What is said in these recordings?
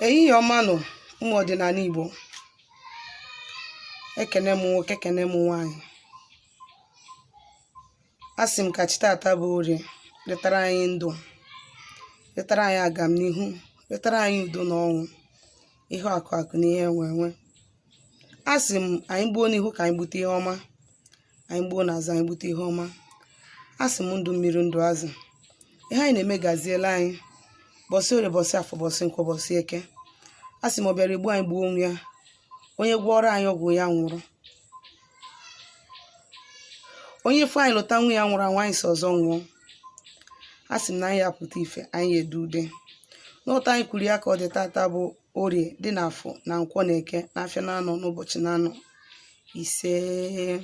ehihie ọma nụ ụmụ ọdịnala Igbo ekene m nwoke ekene m nwaanyị a sị m ka chi tata bụ orie letara anyị ndụ letara anyị agamnihu letara anyị udo na ọṅụ ihe akụ akụ na ihe enwe enwe a sị m anyị gbuo n'ihu ka anyị gbute ihe ọma anyị gbuo na azụ anyị gbute ihe ọma a sị m ndụ mmiri ndụ azụ ihe anyị na-eme gaziela anyị bọsị orie bọsị afọ bọsị nkwọ bọsị eke a sị m ọ bịara igbu anyị gbuo onwe ya onye gwọọrọ anyị ọgwụ ya nwụrụ onye fụ anyị lụta nwa ya nwụrụ anwụ anyị si ọzọ nwụọ a sị m na anyị ya-apụta ife anyị ya-ede ude na otu anyị kwuru ya ka ọ dị tata bụ orie dị n'afọ na nkwọ na eke na afịa na anọ na ụbọchị na anọ isee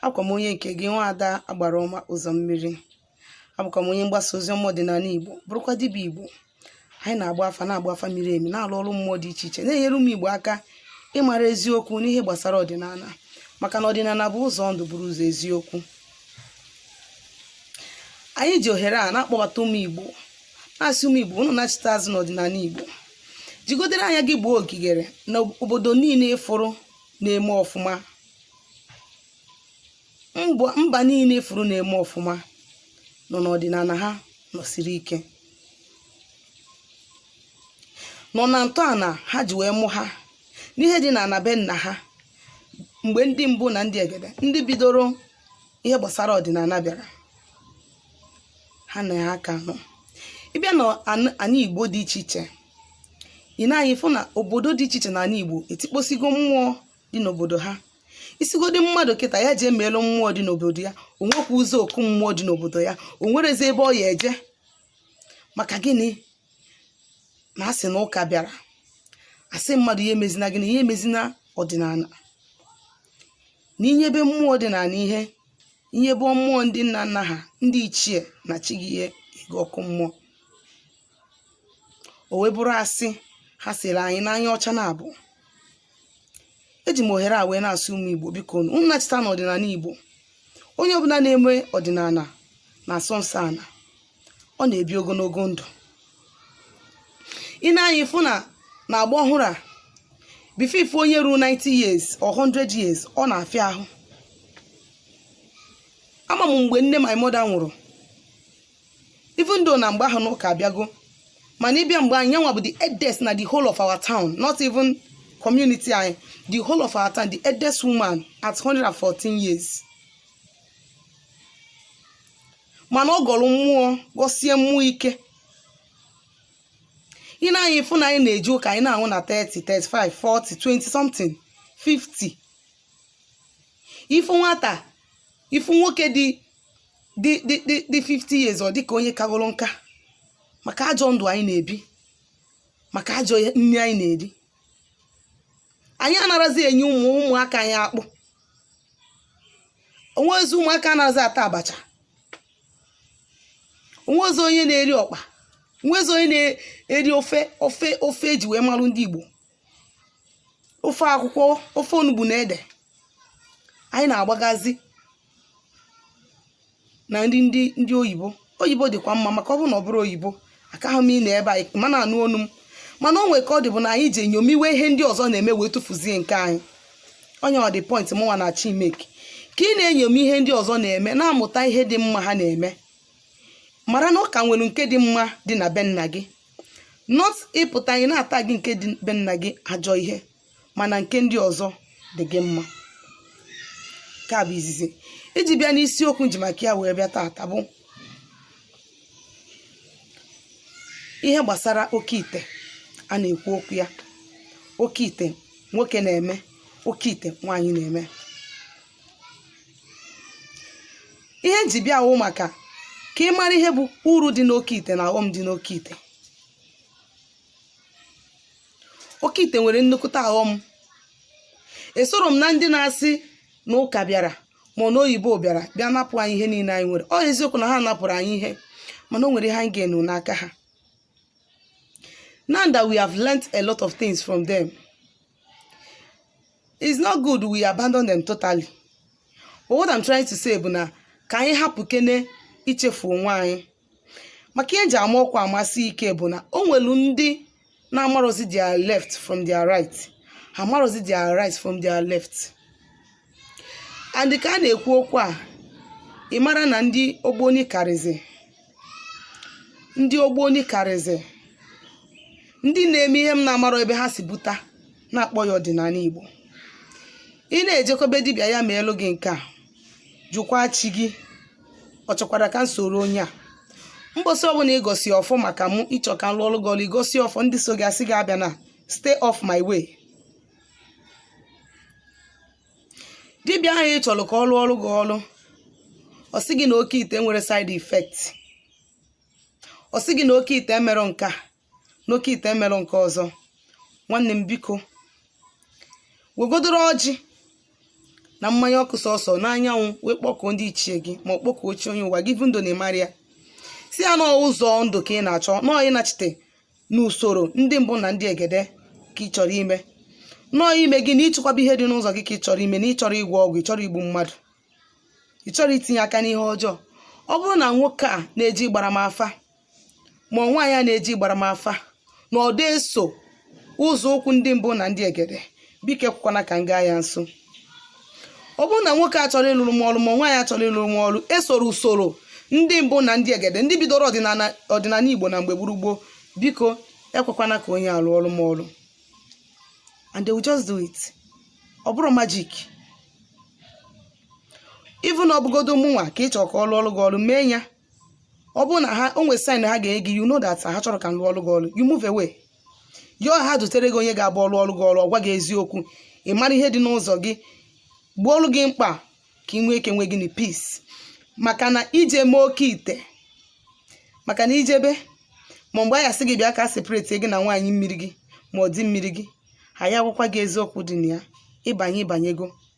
abụkwa m onye nke gị nwa ada agbara ọma ụzọ mmiri abụkwa m onye mgbasa ozi ọma ọdịnala igbo bụrụkwa dibịa igbo anyị na-agba afa na-agba afa miri emi na-alụ ọrụ mmụọ dị iche iche na-enyere ụmụ igbo aka ịmara eziokwu n'ihe gbasara ọdịnala maka na ọdịnala bụ ụzọ ndụ bụrụ ụzọ eziokwu anyị ji ohere a na-akpọbata ụmụ igbo na-asị ụmụ igbo unu nachita azụ n'ọdịnala igbo jigodere anya gị gbuo ogigere na obodo niile ị fụrụ na-eme ọfụma mba niile ị fụrụ na-eme ọfụma nọ n'ọdịnala ha nọsiri ike nọ na ntọala ha ji wee mụ ha n'ihe dị na be nna ha mgbe ndị mbụ na ndị egede ndị bidoro ihe gbasara ọdịnala bịara ha na ya ka nọ ị bịa na an- anị igbo dị iche iche ị nee anya ị fụ na obodo dị iche iche na anị igbo etikposigo mmụọ dị n'obodo ha ị sịgodi mmadụ kịta ya jee meelụ mmụọ dị n'obodo ya o nwekwa ụzọ oku mmụọ dị n'obodo ya o nwerezi ebe ọ ya-eje maka gịnị na a sị na ụka bịara asị mmadụ nya emezina gịnị nya emezina ọdịnala na ị nyebe mmụọ ọdịnala ihe ị nyebe mmụọ ndị nna nna ha ndị ichie na chi gị ihe ị gaa ọkụ mmụọ o wee bụrụ asị ha sịrị anyị n'anya ọcha na abụ eji m ohere a wee na-asị ụmụ Igbo biko unu nachita na ọdịnala Igbo onye ọbụla na-eme ọdịnala na-asọ nsọ ana ọ na-ebi ogologo ndụ ị nee anya ị fụ na na agba ọhụrụ a before ị fụ onye ruo 90 years or 100 years ọ na-afịa ahụ ama m mgbe nne my mother nwụrụ even though na mgbe ahụ na ụka abịago mana ị bịa be anyị ya nwa bụ the eldest na the whole of our town not even community anyị the whole of our town the eldest woman at 114 years mana ọ gọrọ mmụọ gọsie mmụọ ike ị na-anyị fụ na anyị na-eje ụka anyị na-anwụ na 30 35 40 20 something 50 ị fụ nwata ị fụ nwoke dị dị dị dị dị 50 years ọ dị ka onye kagoro nka maka ajọ ndụ anyị na-ebi maka ajọ nri anyị na-eri anyị anarazi enye ụmụ ụmụaka anyị akpụ o nwerọzi ụmụaka anarazi ata abacha o nwerọzi onye na-eri ọkpa o nwerọzi onye na-eri ofe ofe ofe e ji wee marụ ndị Igbo ofe akwụkwọ ofe onugbu na ede anyị na-agbagazi na nri ndị ndị oyibo oyibo dịkwa mma maka ọ bụrụ na ọ bụrọ oyibo akaghị m ịnọ ebe a ị ma na-anụ onu m mana o nwere ka ọ dị bụ na anyị ji enyomiwe ihe ndị ọzọ na-eme wee tụfuzie nke anyị ọ ya the point mụnwa na-achọ i make ka ị na-enyomi ihe ndị ọzọ na-eme na-amụta ihe dị mma ha na-eme mara na ọ ka nwere nke dị mma dị na be nna gị not ị pụta ị na-atag nke dị be nna gị ajọ ihe mana nke ndị ọzọ dị gị mma nke a bụ izizi iji bịa n'isiokwu nji maka ya wee bịa tata bụ ihe gbasara oke ite a na-ekwu okwu ya oke ite nwoke na-eme oke ite nwaanyị na-eme ihe nji bịa wụ maka ka ị mara ihe bụ uru dị n'oke ite na aghọm dị n'oke ite oke ite nwere nnukwute aghọm esorọ m na ndị na-asị na ụka bịara ma ọ na oyibo bịara bịa napụ anyị ihe niile anyị nwere ọ eziokwu na ha napụrụ anyị ihe mana o nwere ihe anyị gain n'aka ha Now that we have learnt a lot of things from them, it's not good we abandon them totally. But what I'm trying to say bụ na ka anyị hapụkene ichefu onwe anyị. Maka ihe nji ama ọkwa amasi ike bụ na o nwelu ndị na-amarozi their left from their right. Ha amarozi their right from their left. and ka a na-ekwu okwu a ị mara na ndị ogboni karịzi ndị ogboni karịzi ndị na-eme ihe m na-amarọ ebe ha si buta na-akpọ ya ọdịnanị igbo ị na-ejekọ be dibịa ya meelu gị nke a jụkwaa chi gị ọ chọkwara ka m soro onye a mbọsị ọbụla ị gọsịa ọfọ maka mụ ị chọọ ka m lụọlụ gị ọlụ ị gọsịa ọfọ ndị so gị asị gị abịana stay off my way dibịa ahụ ị chọrọ ka ọ lụọlụ gị ọlụ ọ sị gị na oke ite nwere side effect ọ sị gị na oke ite emerọ nke a na oke ite emerọ nke ọzọ nwanne m biko wegodoro ọjị na mmanya ọkụ sọsọ n'anyanwụ wee kpọkuo ndị ichie gị ma ọ kpọkuo chi onye ụwa gị bụ ndụ na ịmarị ya sị ya na ụzọ ndụ ka ị na-achọ na ọ ịnachite n'usoro ndị mbụ na ndị egede ka ị chọrọ ime na ọ imezi na ịchịkwaba ihe dị n'ụzọ gị ka ị chọrọ ime na ị chọrọ ịgwọ ọgwụ ị chọrọ igbu mmadụ ị chọrọ itinye aka n'ihe ọjọọ ọ bụrụ na nwoke a na-eje ịgbara m afa ma nwaanyị a na-eje ịgbara m afa na ọ dị eso ụzọ ụkwụ ndị mbụ na ndị egede biko ekwekwana ka m gaa ya nso ọ bụrụ na nwoke a chọrọ ịlụrụ m ọlụ ma nwaanyị a chọrọ ịlụrụ m ọlụ esorọ usoro ndị mbụ na ndị egede ndị bidoro ọdịnanị igbo na mgbe gburu gboo biko ekwekwana ka onye a lụọlụ m ọlụ and they will just do it ọ bụrọ magic even ọ bụgodo mụnwa ka ị chọrọ ka ọ lụọlụ gị ọlụ mee ya ọ bụrụ na ha o nwere sign ha ga-enye gị you know that ha chọrọ ka m lụọlụ gị ọlụ you move away yọọ ha dutere gị onye ga-abụ ọ lụọlụ gị ọlụ ọ gwa gị eziokwu ị mara ihe dị n'ụzọ gị gboolu gị mkpa ka ị nwee ike nwee inner peace maka na i je mee oke ite maka na i jebe ma mgbe a ya-asị gị bịa ka a separate gị na nwaanyị mmiri gị ma ọ di mmiri gị ha ya-agwakwa gị eziokwu dị na ya ị banye ị banyego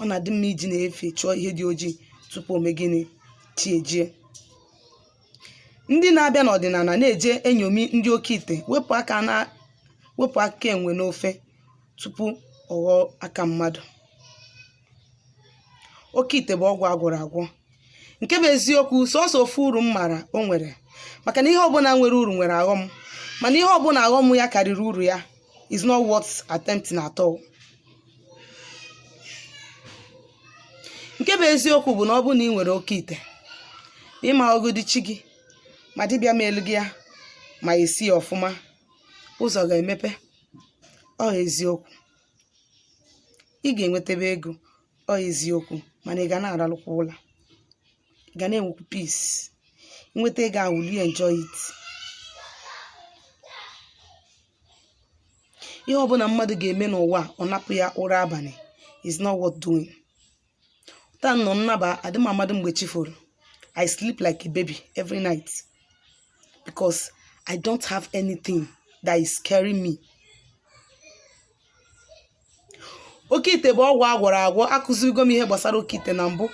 ọ na-adị mma iji na-efe chọọ ihe dị ojii tupu o mee gịnị chi ejie ndị na-abịa n'ọdịnala na-eje enyomi ndị oke ite wepụ aka enwe n'ofe tupu ọ ghọọ aka mmadụ oke ite bụ ọgwụ a gwọrọ agwọ nke bụ eziokwu sọsọ ofu uru m mara o nwere maka na ihe ọbụla nwere uru nwere aghọm mana ihe ọbụla aghọm ya karịrị uru ya is not worth attempting at all. nke bụ eziokwu bụ na ọ bụrụ na ị nwere oke ite ma ịma ọgụdị chi gị ma dibịa meelu gị ya ma esi ya ọfụma ụzọ ga-emepe ọ eziokwu ị ga-enwetebe ego ọ eziokwu mana ị ga na-aralụkwa ụla ị ga na-enwekwu peace i nweta ego ahụ will you enjoy it ihe ọbụla mmadụ ga-eme n'ụwa, ọ napụ ya ụra abalị is not worth doing taanụ m naba adị m amadị mgbe chi foro i sleep like a baby every night because i don't have anything that is scaring me oke ite bụ ọgwụ agwọrọ agwọ akụzigo m ihe gbasara oke ite na mbụ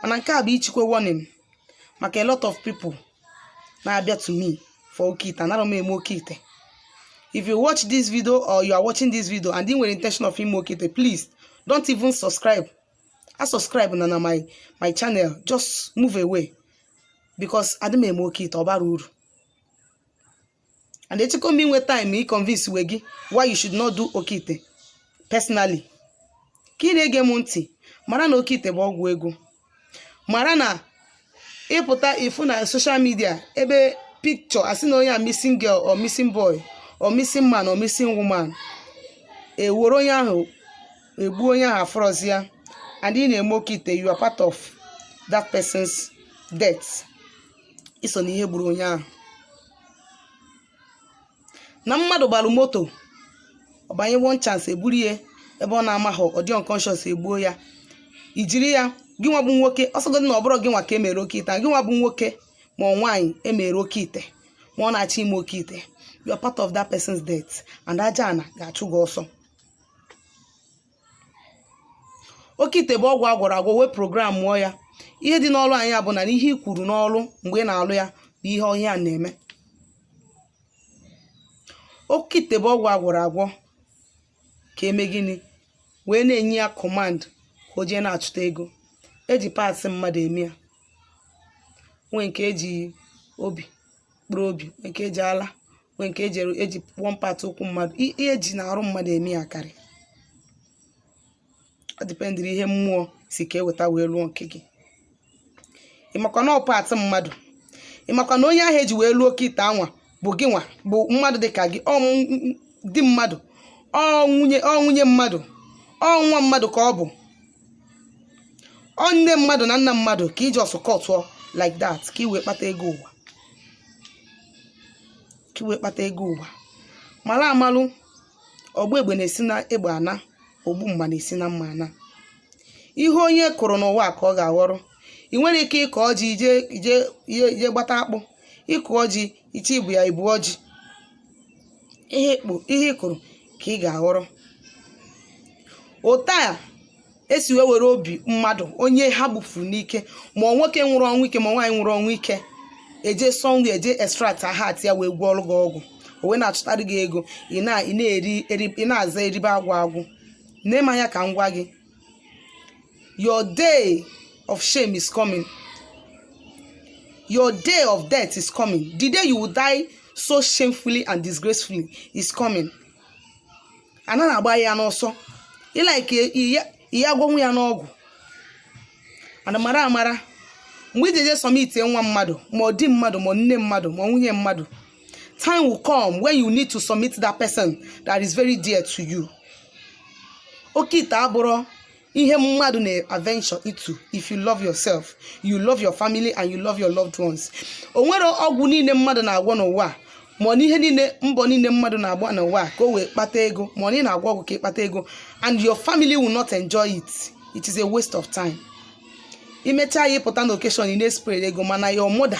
mana nke a bụ ichikwe warning maka a lot of people na-abịa to me for oke ite anara m eme oke ite if you watch this video or you are watching this video and ị nwere intention of ime oke ite please don't even subscribe asubscribena na my channel just move away because adị m eme oke ite ọ bara uru and ejekọ m iwe time i convince we gị why you should not do oke ite personally ka ị na-ege m ntị mara na oke ite bụ ọgwụ ego mara na ịpụta ifu na social media ebe picture asị na onye a missing girl or missing boy or missing man or missing woman ewere onye ahụ egbu onye ahụ afụrọzi ya and ị na-eme oke ite you are part of that person's death iso na ihe gburu onye ahụ na mmadụ gbalụ moto ọ banye one chance eburu ya ebe ọ na-amaghị ọ dị unconscious egbuo ya i jiri ya gị nwa bụ nwoke ọ sọgodị na ọ bụrọ gị nwa ka emere oke ite gị nwa bụ nwoke ma ọ nwaanyị mere oke ite ma ọ na-achọ ime oke ite you are part of that person's death and aja ana ga-achụ gị ọsọ oke ite bụ ọgwụ agwọrọ agwọ wee programụọ ya ihe dị n'ọlụ anyị bụ na ihe i kwuru n'ọlụ mgbe ị na-alụ ya bụ ihe ọ ya na-eme oke ite bụ ọgwụ agwọrọ agwọ ka eme gịnị wee na-enye ya command ka o jee na-achụta ego eji parts mmadụ eme ya nwee nke eji obi mkpụrụ obi nwee nke eji ala nwee nke eji eji one part ụkwụ mmadụ i- ihe eji n'arụ mmadụ eme ya karị ọ dependịrị ihe mmụọ si ka eweta wee lụọ nke gị ịmakwa na ọ part mmadụ ịmakwa na onye ahụ eji wee lụọ oke ite anwa bụ gị nwa bụ mmadụ dị ka gị ọ m- m- di mmadụ ọ nwunye ọ nwunye mmadụ ọ nwa mmadụ ka ọ bụ ọ nne mmadụ na nna mmadụ ka ị just cutụọ like that ka i- ka iwee kpata ego ụwa mara amalụ ọgba egbe na-esi na egbe ana ogbu mma na-esi na mma ana ihe onye kụrụ n'ụwa ka ọ ga-aghọrọ ị nwerọ ike ịkọọ ji ị jee gbata akpụ ịkụọ ji ị je ibu ya i buo ji ihe ị kụrụ ka ị ga-aghọrọ otu a esi wee were obi mmadụ onye ha gbufuru n'ike ma ọ nwoke nwụrụ ọnwụ ike ma nwaanyị nwụrụ ọnwụ ike eje sọ nri eje extract heart ya wee gwọọrụ gị ọgwụ o wee na-achụtarị gị ego ị na- ị na-eri eri- ị na-aza eribe agwụ agwụ nee m anya ka m gwa gị your day of shame is coming your day of death is coming the day you will die so shamefully and disgracefully is coming ana na-agba ya n'ọsọ ị like ihe agwọnwụ ya n'ọgwụ ana mara amara mgbe ị jeje submit nwa mmadụ ma ọ di mmadụ ma nne mmadụ ma nwunye mmadụ time will come when you need to submit that person that is very dear to you oke ite abụrụ ihe mmadụ na-aventure into if you love yourself you love your family and you love your loved ones o nwere ọgwụ niile mmadụ na-agwọ n'ụwa a, ma ọ na ihe niile mbọ niile mmadụ na-agba n'ụwa a ka o wee kpata ego ma ọ na ị na-agwọ ọgwụ ka ị kpata ego and your family will not enjoy it it is a waste of time i mechaa ya ị pụta na occasion ị na-espray ego mana your mother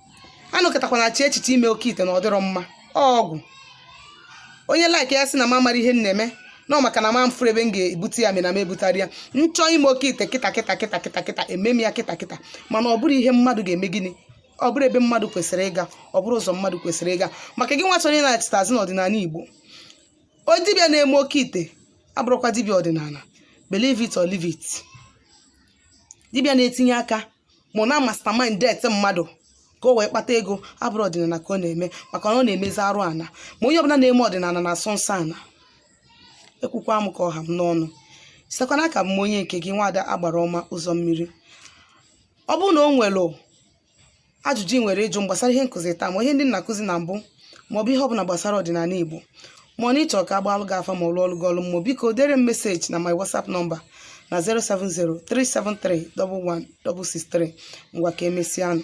anọkatakwana chee echiche ime oke ite na ọ dịrọ mma ọgwụ onye like ya sị na m amara ihe m na-eme na ọ maka na m afụrụ ebe m ga-ebute ya mee na m ebutara ya m chọọ ime oke ite kịta kịta kịta kịta kịta eme m ya kịta kịta mana ọ bụrụ ihe mmadụ ga-eme gịnị ọ bụrụ ebe mmadụ kwesịrị ịga ọ bụrụ ụzọ mmadụ kwesịrị ịga maka gịnwa chọrọ ịnachita azụ n'ọdịnala igbo o dibịa na-eme oke ite abụrụkwa dibịa ọdịnala believe it or leave it dibịa na-etinye aka ma ọ na-amastermind death mmadụ ka o wee kpata ego abụrụ ọdịnala ka ọ na-eme maka na ọ na-emezi arụ ana ma onye ọbụla na-eme ọdịnala na-asọ nsọ ana ekwukwa m ka ọ ha m n'ọnụ sitekwa n'aka m onye nke gị nwaada agbara ọma ụzọ mmiri ọ bụrụ na o nwere ajụjụ ị nwere ịjụ m gbasara ihe nkụzi taa ma ihe ndị m na-akụzi na mbụ maọbụ ihe ọbụla gbasara ọdịnala Igbo ma ọ na ị chọrọ ka a gbaalụ gị afa ma ọ lụọlụ gị ọlụ mmụọ biko dere m message na my WhatsApp number na 070 373 11163 ngwa ka e mesịa nụ